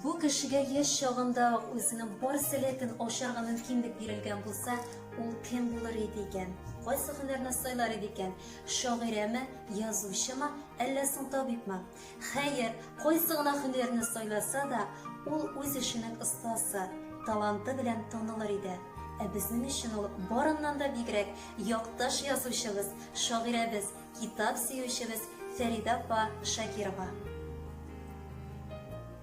Бу кешегә яшь чагында үзенең бар сәләтен ашарга мөмкинлек бирелгән булса, ул кем булыр иде икән? Кайсы һөнәрне сайлар иде икән? Шагыйрәме, язучымы, әллә соң табибмы? Хәер, кайсы гына һөнәрне сайласа да, ул үз эшенең остасы, таланты белән танылыр иде. Ә безнең өчен ул барыннан да бигрәк якташ язучыбыз, шагыйрәбез, китап сөючебез Фәридә апа Шакирова.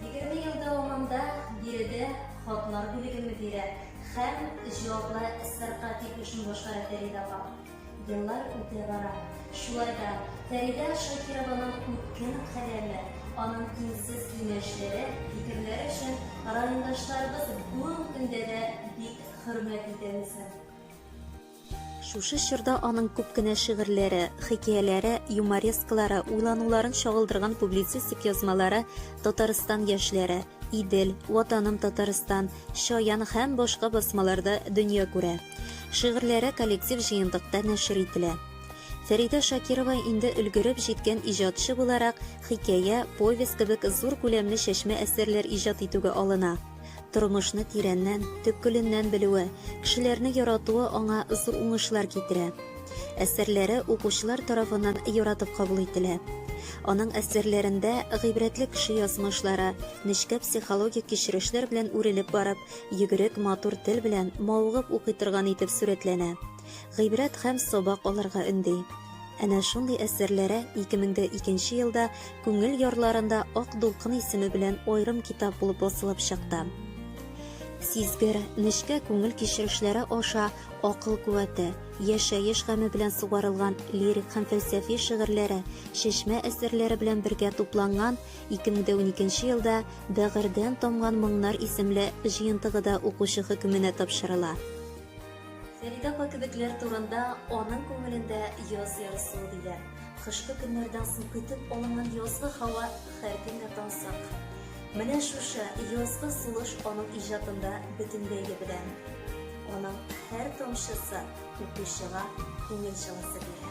Егерме ел дәвамында биредә хатлар бүлеге мөдире һәм җаваплы СРК тикшерү башкара Фәридә апа. Еллар үтә бара. Шулай да Фәридә Шакированың үткен каләме, аның тиңсез киңәшләре, фикерләре өчен райондашларыбыз бүген көндә дә бик хөрмәт итәбез. Шушы чорда аның күп кенә шигырьләре, хикәяләре, юморескалары, уйлануларын чагылдырган публицистик язмалары Татарстан яшьләре, Идел, Ватаным Татарстан, Чаян һәм башка басмаларда дөнья күрә. Шигырьләре коллектив җыентыкта нәшер ителә. Фәридә Шакирова инде өлгереп җиткән иҗатчы буларак, хикәя, повесть кебек зур күләмле чәчмә әсәрләр иҗат итүгә алына. Тормышны тирәннән, төпкеленнән белүе, кешеләрне яратуы аңа зур уңышлар китерә. Әсәрләре укучылар тарафыннан яратып кабул ителә. Аның әсәрләрендә гыйбрәтле кеше язмышлары, нечкә психологик кичерешләр белән үрелеп барып, йөгерек, матур тел белән мавыгып укый торган итеп сурәтләнә. гыйбрәт һәм сабак алырга өнди. Әнә шундый әсәрләре 2002 елда Күңел ярларында Ак дулкын исеме белән аерым китап булып басылып чыкты. Сизгер, нечкә күңел кичерешләре аша акыл куәте, яшәеш гаме белән сугарылган лирик һәм фәлсәфи шигырьләре, чишмә әсәрләре белән бергә тупланган 2012 елда Бәгырьдән тамган моңнар исемле җыентыгы да укучы хөкеменә тапшырыла. Фәридә апа кебекләр турында аның күңелендә яз ярсуы диләр. Кышкы көннәрдән соң көтеп алынган язгы һава һәр кемгә тансык. Менә шушы язгы сулыш аның иҗатында бөтенләй дә белән. Аның һәр тамчысы укучыга күңел җылысы бирә.